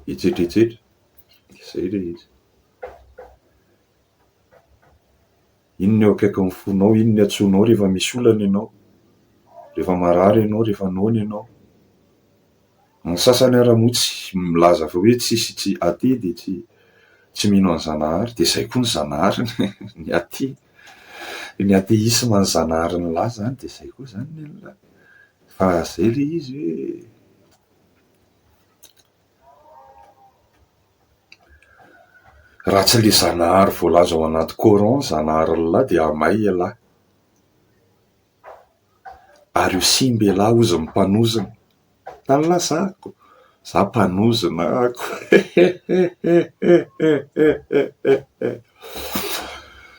Etsetra etsetra izay rehetra. Inona eo akaikin'ny fonao, inona iantsoanao rehefa misy olana ianao, rehefa marary ianao, rehefa noana ianao. Ny sasany ara moa tsy milaza fa hoe tsy hisy tsy aty dia tsy tsy mino an'i Zanahary dia izay koa ny Zanahary ny aty ny atheisme an'i Zanahary nilaza dia izay koa izany ny an'ilay Fa zay le izy hoe raha tsy le Zanahary voalaza ao anaty coran, Zanaharin'Allah dia amay ialahy. Ary io simba ialahy hozy ny mpanozona. Tany lazako. Za mpanozona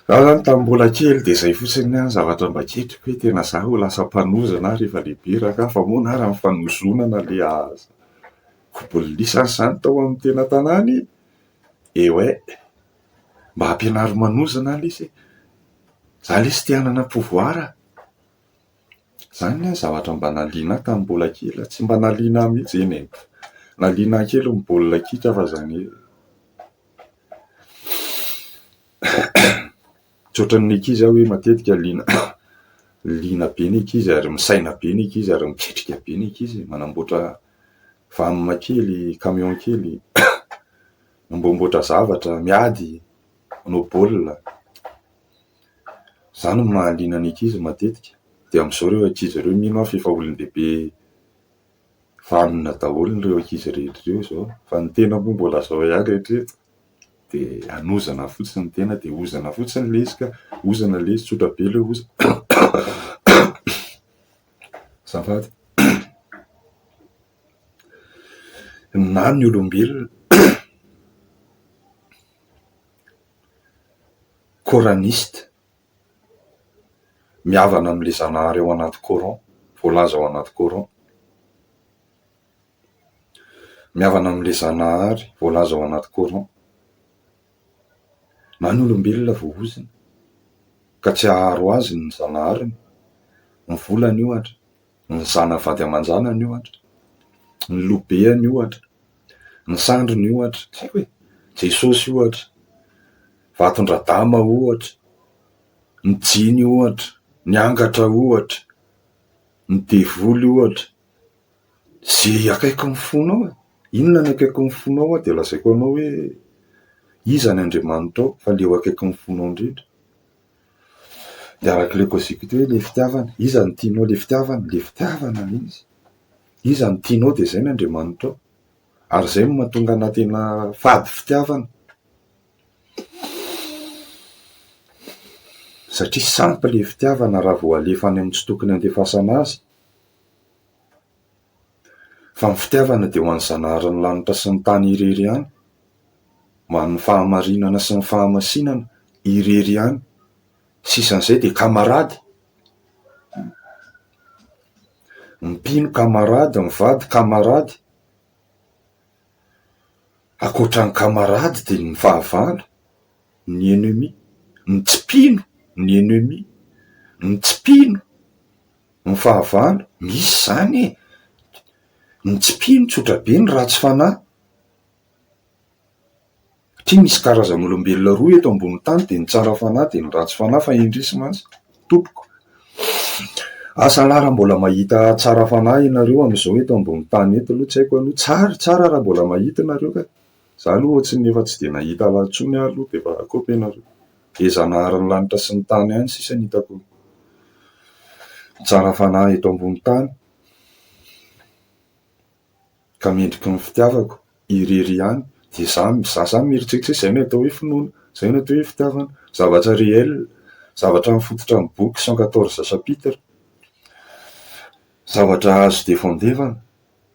Za zany tamin'ny mbola kely dia izay fotsiny ny zavatra mba kitro hoe tena za ho lasa mpanozona aho rehefa lehibe raha ka fa moa na raha ny fanozonana le aza kobolisana izany tao amin'ny tena tanàna e! eh ouais mba ampianaro manozona lesy e! za lesy te hanana pouvoir a! Izany ny ahy zavatra mba naliana ahy tamin'ny mbola kely, tsy mba naliana ahy mihitsy eny e! Naliana ahy kely ny baolina kitra fa izany hoe tsy ohatran'ny ankizy aho hoe matetika liana liana be ny ankizy ary misaina be ny ankizy ary miketrika be ny ankizy, manamboatra van kely, camion kely, manamboamboatra zavatra, miady, manao baolina. Izany no mahaliana ny ankizy matetika. Dia amin'izao ireo ankizy ireo mino aho fa efa olon-dehibe vanona daholo ireo ankizy rehetra ireo izao. Fa ny tena moa mbola izao ihany hatreto. Dia hanozana fotsiny ny tena dia hozana fotsiny ilay izy ka. Hozana ilay izy, tsotra be ilay hozana. Azafady. Na ny olombelona. Coraniste, mihavana amin'ilay Zanahary ao anaty Coran, voalaza ao anaty Coran. Mihavana amin'ilay Zanahary voalaza ao anaty Coran. Na ny olombelona voahozona ka tsy haharo azy ny Zanahariny, ny volany ohatra, ny zanavady aman-janany ohatra, ny lobeany ohatra, ny sandriny ohatra, tsy haiko e, Jesosy ohatra, vaton-dRadama ohatra, ny jiny ohatra, ny angatra ohatra, ny devoly ohatra, ze akaikin'ny fonao e, inona ny akaikin'ny fonao aho dia lazaiko anao hoe iza ny Andriamanitrao fa le eo akaikin'ny fonao indrindra. Dia araka ilay cosicuty hoe ilay fitiavana, iza no tianao? Ilay fitiavana, ilay fitiavana ilay izy, iza no tianao dia izay no Andriamanitrao, ary izay no mahatonga anà tena fady fitiavana, satria sampy ilay fitiavana raha vao alefa any amin'ny tsy tokony handefasana azy. Fa ny fitiavana dia ho an'ny Zanahary ny lanitra sy ny tany irery ihany, ho an'ny fahamarinana sy ny fahamasinana irery ihany. Sisa an'izay dia kamarady. Ny mpino kamarady, ny vady kamarady. Ankoatra ny kamarady dia ny fahavalo ny ennemi, ny tsy mpino ny ennemi, ny tsy mpino Ny fahavalo, misy izany e! Ny tsy mpino tsotra be no ratsy fanahy. Satria misy karazan'olombelona roa eto ambony tany dia ny tsara fanahy dia ny ratsy fanahy fa indrisy mantsy tompoko. Asa lah raha mbola mahita tsara fanahy ianareo amin'izao eto ambony tany eto aloha tsy haiko aloha. Tsara, tsara raha mbola mahita ianareo kay. Za aloha ohatry ny efa tsy dia nahita ala intsony ary aloha dia efa rakoto ianareo. Dia Zanaharin'ny lanitra sy ny tany ihany sisa no hitako mitsara fanahy eto ambony tany ka mendriky ny fitiavako irery ihany. Dia za za zany mieritreritra hoe zay no atao hoe finoana, zay no atao hoe fitiavana, zavatra réel, zavatra mifototra amin'ny boky cent quatorze chapitres, zavatra azo defendevana,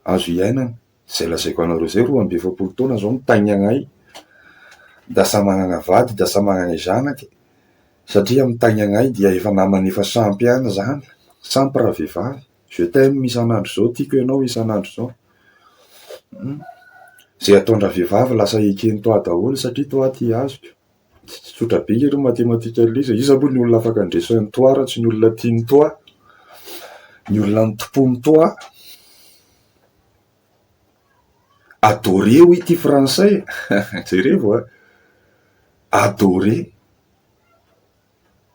azo iainana. Zay lazaiko anareo zay roa amby efapolo taona zao mitaingagna ahy da samy magnagna vady da samy magnagna zanake satria mitaingagna ahy dia efa namany efa sampy ihany zany sampy raha vehivavy je t'aime isan'andro zao tiako ianao isan'andro zao hum ze ataondraha vehivavy lasa ekeny toa daholo satria toa aty azoko. Tsy tsotsotra be lery matematika lery izy e, iza moa ny olona afaka handresy an'i toi raha tsy ny olona tia an'i toi, ny olona nitompoan'i toi, adoré hoy ity frantsay e, jerevo a, adoré.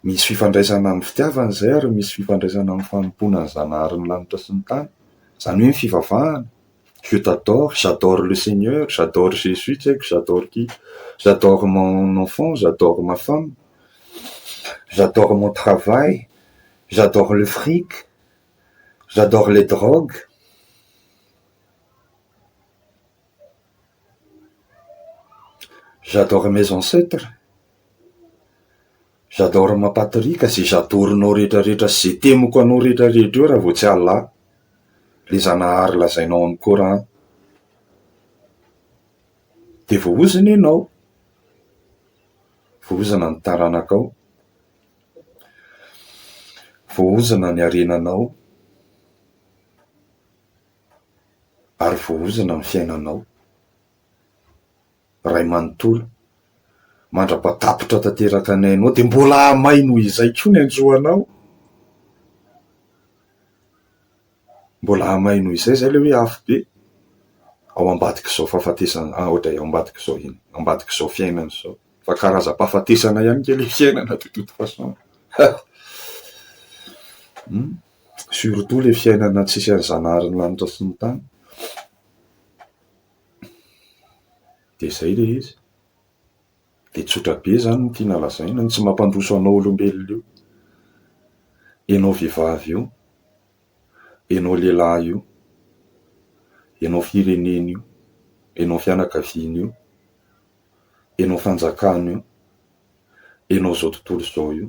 Misy fifandraisana amin'ny fitiavana izay ary misy fifandraisana amin'ny fanompoana ny Zanahary ny lanitra sy ny tany. Izany hoe ny fivavahana, je t'adore, j'adore le seigneur, j'adore Jesus, tsy haiko j'adore qui, j'adore mon enfant, j'adore ma femme, j'adore mon travail, j'adore le fric, j'adore les drogues. J'adore mes ancêtres. J'adore mampatorika ze j'adorenao rehetra rehetra sy ze temiko anao rehetra rehetra eo raha vao tsy Allah le zanahary lazainao am coran de voahozona ianao voahozona ny taranakao voahozona ny harenanao ary voahozona ny fiainanao Ray manontolo, mandra-patapitra tanteraka ny ainao, dia mbola hahamay noho izay koa ny anjoanao. Mbola hahamay noho izay, izay ilay hoe afobe ao ambadik'izao fahafatesana, ao ambadik'izao inona, ao ambadik'izao fiainana izao. Fa karazam-pahafatesana ihany ange ilay fiainana de toute façon. Surtout ilay fiainana tsisy an'i Zanaharin'ny lanitra sy ny tany. Dia izay ilay izy. Dia tsotra be izany no tiana lazaina, ny tsy mampandroso anao olombelona io. Ianao vehivavy io, ianao lehilahy io, ianao firenena io, ianao fianakaviana io, ianao fanjakana io, ianao izao tontolo izao io.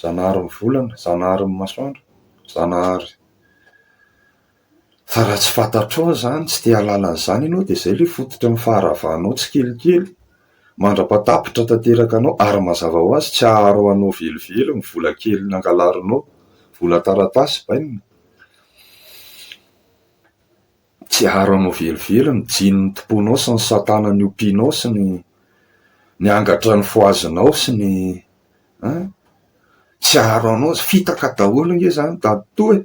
Zanahary ny volana, Zanahary ny masoandro, Zanahary fa raha tsy fantatrao izany, tsy te hahalala an'izany ianao dia izay ilay fototra ny faharavanao tsikelikely mandra-pahatapitra tanteraka anao ary mazava ho azy tsy haharo anao velively ny vola kely nangalarinao, vola taratasy bainina. Tsiaro anao velively ny jiny ny tomponao sy ny satana ny ompianao sy ny ny angatra ny foazinao sy ny an! Tsiaro anao zany, fitaka daholo nge zany dadtoa e!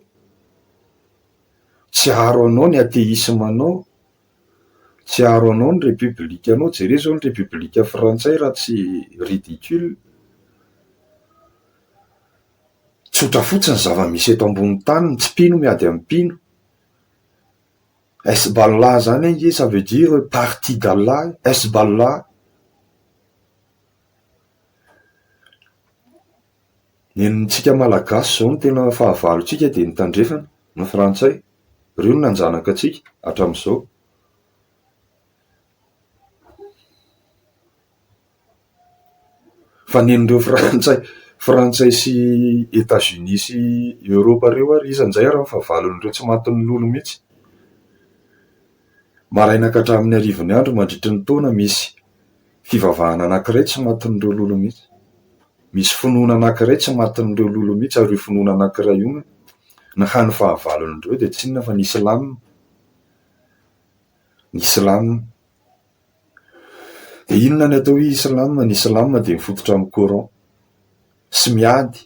Tsiaro anao ny atheisme anao, tsiaro anao ny république anao, jereo zao ny république frantsay raha tsy ridicule, tsotra fotsiny ny zava-misy eto ambony tany, tsy mpino miady amin'ny mpino. Hezbollah zany ange ça veut dire partie d'Allah, Hezbollah, ny antsika malagasy zao no tena fahavalontsika dia ny tandrefana, ny frantsay, reo no nanjanaka antsika hatramizao. Fa nen'ireo frantsay frantsay sy Etats-Unis sy Europe ireo ary iza njay ary ny fahavalon'ireo tsy matin'ny lolo mihitsy. Maraina ka hatramin'ny arivony andro mandritry ny taona misy fivavahana anankiray tsy matin'ireo lolo mihitsy. Misy finoana anankiray tsy matin'ireo lolo mihitsy ary io finoana anankiray io ny hany fahavalon'ireo dia tsy inona fa ny islam, ny islam. Dia inona ny atao hoe Islam? Ny Islam dia mifototra amin'ny Coran sy miady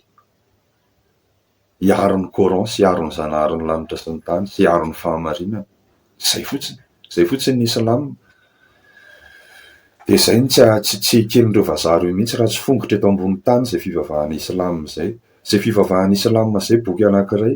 hiaro ny Coran sy hiaro ny Zanaharin'ny lanitra sy ny tany sy hiaro ny fahamarinana. Izay fotsiny. Izay fotsiny ny Islam. Dia izay no tsy ah- tsy tsy eken'ireo vazaha ireo mihitsy raha tsy fongotra eto ambonin'ny tany izay fivavahana Islam izay. Izay fivavahana Islam izay boky anankiray.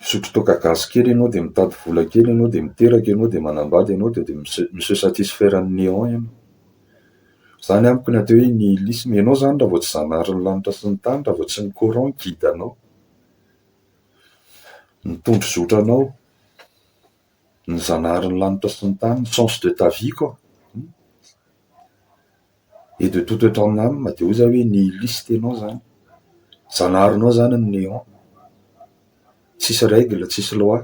Misotro toaka gasy kely ianao dia mitady vola kely ianao dia miteraka ianao dia manambady ianao dia mi se satisfaire an'i néant ianao. Zany amiko ny atao hoe nihilisme. Ianao zany raha vao tsy zanaharin'ny lanitra sy ny tany, raha vao tsy ny coran guide anao, ny tondro zotra anao, ny zanaharin'ny lanitra sy ny tany, ny sens de ta vie quoi. et de toute eto aminy any mba de oza hoe ny liste nao zany, zanaharinao zany ny néant, tsisy règle, tsisy loi,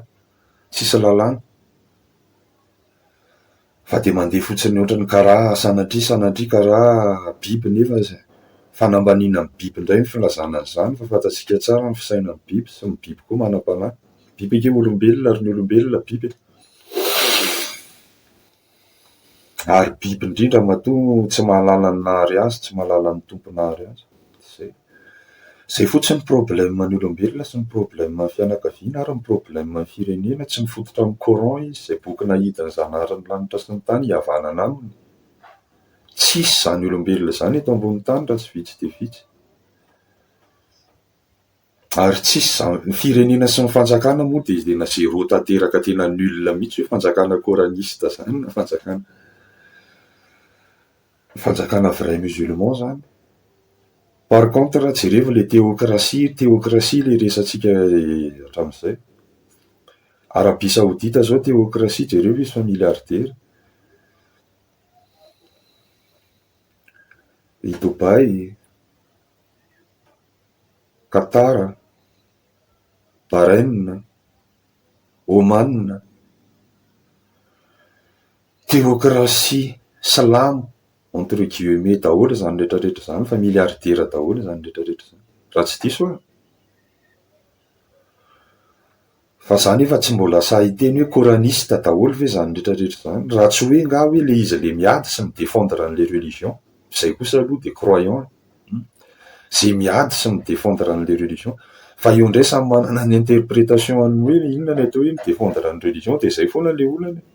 tsisy lalàna, fa de mandeha fotsiny ohatrany karaha sanatria sanatria karaha biby nefa zay fanambaniana ny biby ndray ny filazana an'zany fa fantatsika tsara ny fisainan'ny biby sy ny biby koa manam-panahy, biby ange olombelona ary ny olombelona biby e! Ary biby indrindra matoa no tsy mahalala ny nahary azy, tsy mahalala ny Tompo nahary azy. Izay. Izay fotsiny ny problème ny olombelona sy ny problème ny fianakaviana ary ny problème ny firenena, tsy mifototra amin'ny coran izy, izay boky nahidin'ny Zanaharin'ny lanitra sy ny tany hihavanana aminy. Tsisy izany olombelona izany eto ambonin'ny tany raha tsy vitsy dia vitsy. Ary tsisy zany, ny firenena sy ny fanjakana moa dia tena zéro tanteraka tena nul mihitsy hoe fanjakana coraniste zany na fanjakana fanjakana vrai musulman zany. Par contre jereo ilay théocratie, théocratie ilay resatsika hatramin'izay. Arabie saodita zao théocratie jereo ve izy fa milliardaire. I Dubaï. Qatar, Bahrain, Oman, teokrasia silamo entre guillemets daholo izany rehetra rehetra izany fa milliardaires daholo izany rehetra rehetra izany raha tsy diso aho. Fa za nefa tsy mbola sahy hiteny hoe coraniste daholo ve zany retraretra izany? Raha tsy hoe ngah hoe le izy le miady sy midefendre an'le religion? Izay kosa aloha de croyant e! Hum! Ze miady sy midefendre an'le religion. Fa eo ndray samy manana ny interpretation an'ny hoe inona ny atao hoe midefendre ny religion de izay foana le olana e!